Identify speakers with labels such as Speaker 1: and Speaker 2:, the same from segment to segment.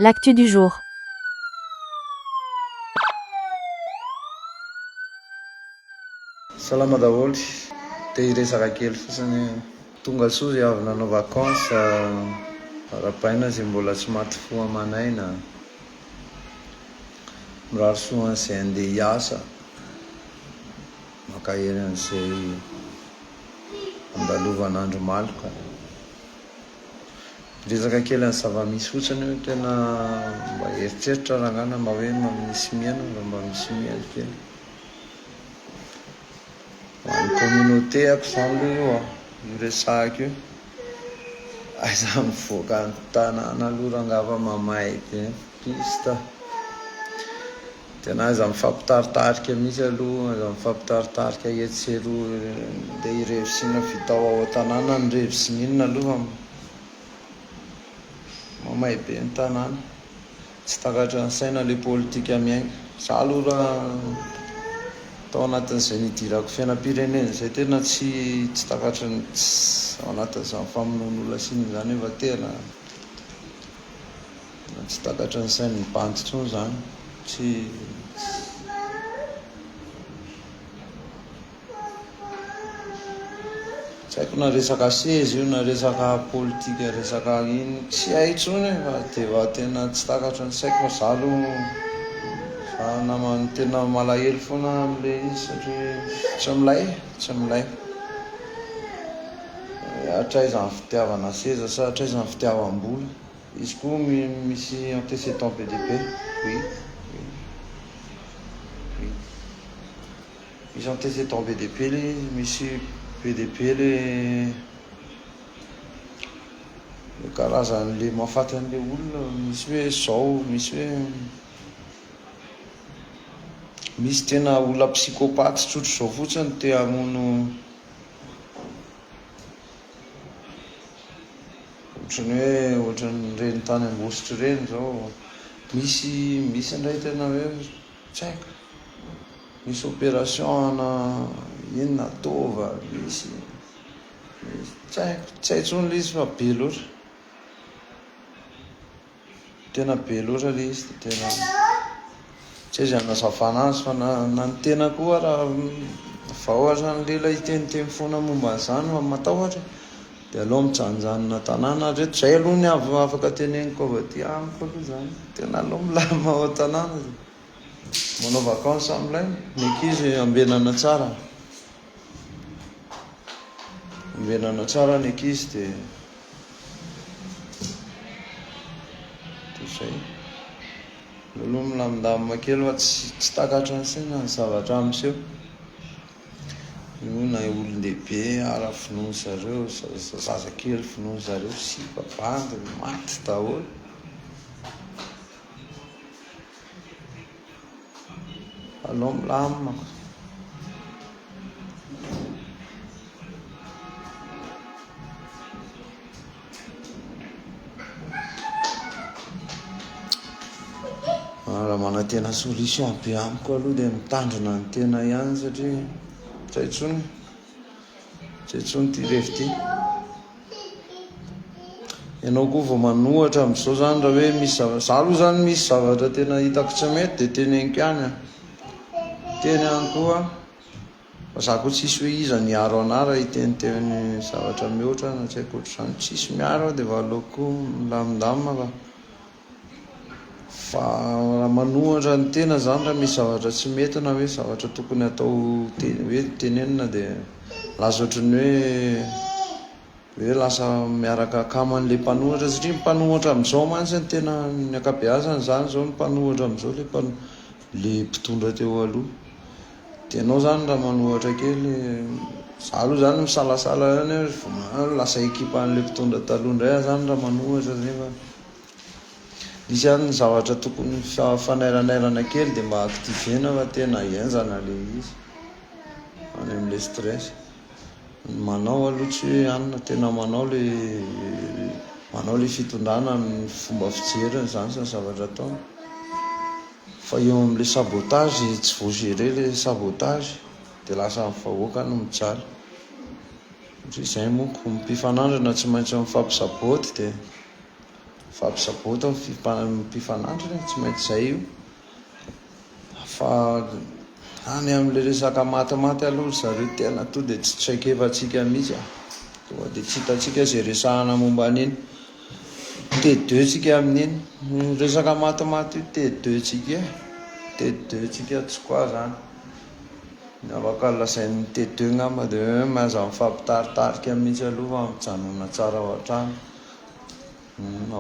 Speaker 1: L'actu du jour.
Speaker 2: Salama daholo, te hiresaka kely fotsiny hoe tonga soa zay avy nanao vacance, arabaina zay mbola tsy maty fo aman'aina, mirary soa an'izay handeha hiasa, mankahery an'izay andalovana andro maloka. Resaka kely an'ny zava-misy fotsiny io, tena mba eritreritra rangahy na mba hoe misy miaina raha mba misy mihaino kely. Ho an'ny communauté-ako izany aloha io an, io resahako io. Aiza mivoaka ny tanàna aloha rangahy fa mamay be ny piste. Tena aza mifampitaritarika mihitsy aloha, aza mifampitaritarika etsy sy eroa, ndeha irevy sy inona vitao ao an-tanàna ny revy sy ny inona aloha fa mamay be ny tanàna, tsy takatry ny saina ilay politika miainga, za aloha raha tao anatin'izay nidirako fiainam-pirenena izay tena tsy tsy takatry ny tsy ao anatin'izany famonoan'olona sy inona izany aho fa tena. Tsy takatry ny sain'ny bandy intsony izany. Tsy Tsy haiko na resaka seza io na resaka politika resaka iny tsy hay intsony e, fa dia efa tena tsy takatry ny saiko fa za aloha fa namany tena malahelo foana amin'ilay izy satria tsy milay tsy milay hatraiza ny fitiavana seza sa hatraiza ny fitiavam-bola Izy koa misy antécédent be dia be, oui, oui, oui, misy antécédent be dia be le izy, misy be dia be le le karazan'le mahafaty an'le olona, misy hoe zao, misy hoe misy tena olona psychopathe tsotr'izao fotsiny te hamono Ohatran'ny hoe ohatran'ireny tany Ambositra ireny izao, misy misy indray tena hoe tsy haiko, misy opération ana inona ataova, misy misy tsy haiko, tsy hay intsony ilay izy fa be loatra. Tena be loatra le izy dia tena tsy azo anazavana azy fa na, na ny tena koa raha vao azan'ny lela hiteniteny foana momba an'izany fa matahotra dia aleo mijanonjanona an-tanàna ary eto izay aloha ny afaka teneniko avy aty amiko aloha izany tena aleo milamina ao an-tanàna dia manao vacances amin'ilay ny ankizy ambenana tsara ambenana tsara ny ankizy dia Toy izay. Aleo aloha milamindamina kely fa tsy tsy takatra ansaina ny zavatra miseho. Io na olon-dehibe ara finoan zareo, zaza kely finoan zareo, sipa, bandy, maty daholo. Alao milamina ko. Raha manantena solution be amiko aloha dia mitandrina ny tena ihany satria tsy hay intsony. Tsy intsony ty revy ty. Ianao koa vao manohatra amin'izao zany raha hoe misy zavatra. Za aloha zany misy zavatra tena hitako tsy mety dia teneniko ihany an. Teny ihany koa. Fa za koa tsisy hoe iza ny hiaro anah raha hiteny teny zavatra mihoatra na tsy haiko ohatr'izany. Tsisy miaro aho dia vao aleoko milamindamina fa. Fa raha manohatra ny tena izany raha misy zavatra tsy mety na hoe zavatra tokony hatao hoe tenenina dia lasa ohatran'ny hoe hoe lasa miaraka akama an'ilay mpanohatra satria ny mpanohatra amin'izao mantsy no tena ny ankabeazany izany izao no mpanohatra amin'izao ilay mpano- ilay mpitondra teo aloha. Dia ianao izany raha manohatra kely, izaho aloha izany misalasala ihany hoe vao ma- lasa ekipan'ilay mpitondra taloha indray aho izany raha manohatra nefa Misy ary ny zavatra tokony fanairanairana kely dia mba activena fa tena henjana le izy any amle stress ny manao aloha tsy hoe any no tena manao le manao le fitondrana ny fomba fijeriny zany sy ny zavatra ataony fa eo amle sabotage tsy vao gere le sabotage de lasa ny vahoaka no mijaly satria zay monko ny mpifanandrina tsy maintsy mifampisaboty de Mifampisaboto ny fifanandrina e, tsy maintsy izay io fa any amin'ilay resaka matimaty aloha ry zareo tena tonga dia tsy traikefantsika mihitsy a, tonga dia tsy hitantsika izay resahana momba an'iny T2 ntsika amin'iny, io resaka matimaty io T2 ntsika e, T2 ntsika tsy quoi izany, ny afaka lazain'ny T2 angamba dia hoe aza mifampitaritarika mihitsy aloha fa mijanona tsara ao an-trano.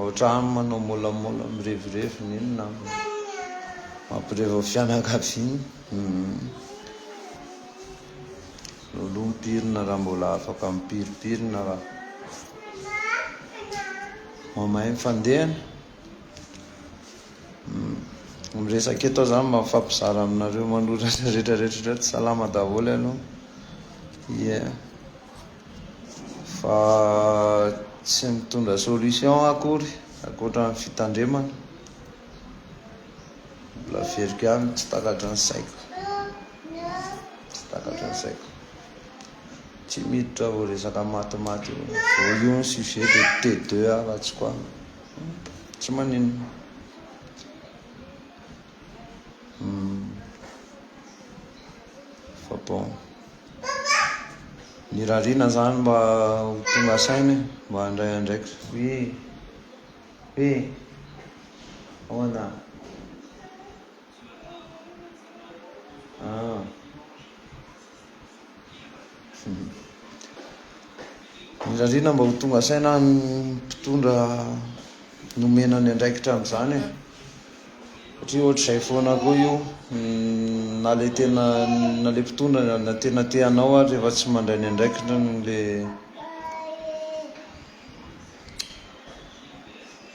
Speaker 2: Otrany manao molamola mirevirevy ny iny namana. Mampirevy ao fianakaviana. Loloha mipirina raha mbola afaka mipiripirina raha. Mamay ny fandehany. Miresaka eto aho zany mafampizara aminareo manoratra rehetra rehetra rehetra salama daholo ianao. Yeah. Fa tsy mitondra solution akory ankoatra ny fitandremana. Mbola averiko ihany tsy takatry ny saiko. Tsy takatry ny saiko. Tsy miditra vao resaka matimaty io. Vao io ny sujet de T2 afa-tsy koa. Tsy maninona. Fa bon, nirariana zany mba ho tonga saina e, mba handray andraikitra. Oui, oui, ahoana? Ah. Mirariana mba ho tonga saina ny mpitondra nomena ny andraikitra amin'izany e. Satria ohatr'izay foana koa io, na ilay tena, na ilay mpitondra na tena te hanao ary rehefa tsy mandray ny andraikitrany ilay,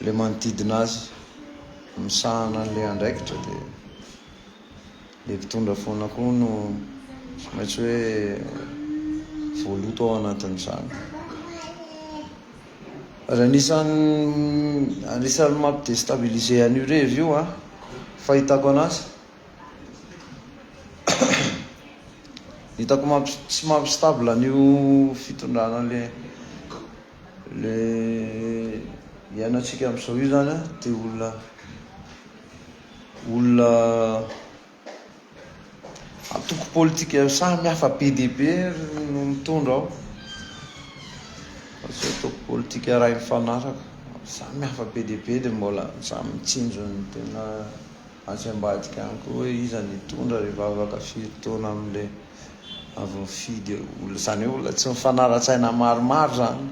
Speaker 2: ilay manodidina azy misahana an'ilay andraikitra dia. Ilay mpitondra foana koa no tsy maintsy hoe voaloto ao anatin'izany. Ary anisan'ny anisan'ny mampi-destabiliser an'io revy io a, fahitako anazy. Hitako mampi, tsy mampi-stable an'io fitondrana le le iainantsika amin'izao io zany a, dia olona Olona antoko politika samy hafa be dia be no mitondra ao. Tsy antoko politika iray mifanaraka. Samy hafa be dia be dia mbola samy mitsinjo ny tena atsy ambadika any koa hoe iza no hitondra rehefa afaka firy taona amin'ilay avy mifidy eo. Olona, izany hoe olona tsy mifanara-tsaina maromaro izany.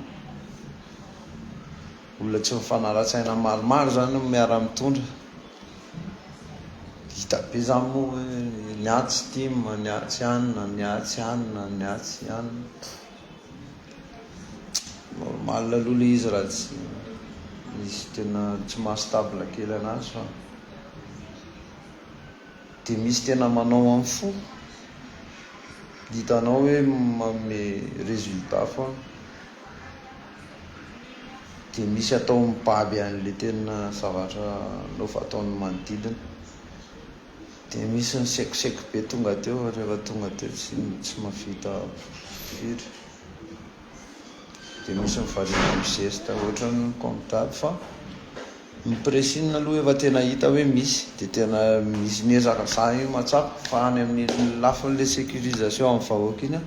Speaker 2: Olona tsy mifanara-tsaina maromaro zany no miara mitondra. Hita be zany moa hoe ny ahy tsy tim, ny ahy tsy anona, ny ahy tsy anona, ny ahy tsy anona. Normal aloha le izy raha tsy misy tena tsy maha stable kely anazy fa. De misy tena manao am fo. Hitanao hoe manome résultat foana. Dia misy atao mibaby an'le tena zavatra nov ataon'ny manodidina. Dia misy ny sekoseko be tonga teo fa rehefa tonga teo tsy tsy mahavita firy. Dia misy ny variana amin'ny zesta ohatran'ny comme d'hab fa ny pressing aloha efa tena hita hoe misy dia tena misy miezaka zah io mahatsapa fa any amin'ny lafin'le sécurisation amin'ny vahoaka iny aho.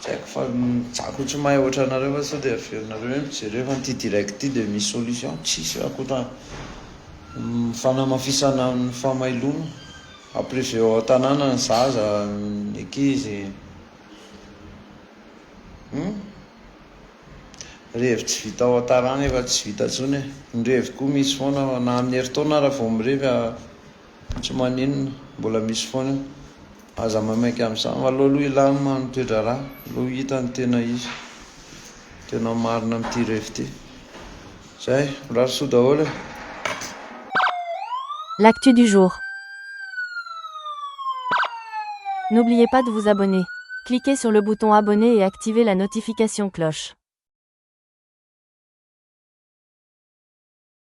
Speaker 2: Tsy haiko fa za ko tsy mahay otranareo fa sao dia averinareo hoe mijery hoe fa ity direct ity dia misy solution tsisy hoe akotra ny fanamafisana ny famailona a privé ao an-tanàna ny zaza ny ankizy hum revy tsy vita ao an-tanàna efa tsy vita intsony e ny revy koa misy foana na amin'ny herintaona ary vao mirevy a Tsy maninona, mbola misy foana io. Aza maimaika amin'izany. Aleo aloha hilamina ny toe-draharaha, aleo hita ny tena izy, ny tena marina amin'ity revy ity. Izay, mirary soa daholo e!
Speaker 3: L'actu du jour. N'oubliez pas de vous abonner. Cliquez sur le bouton abonner et activez la notification cloche.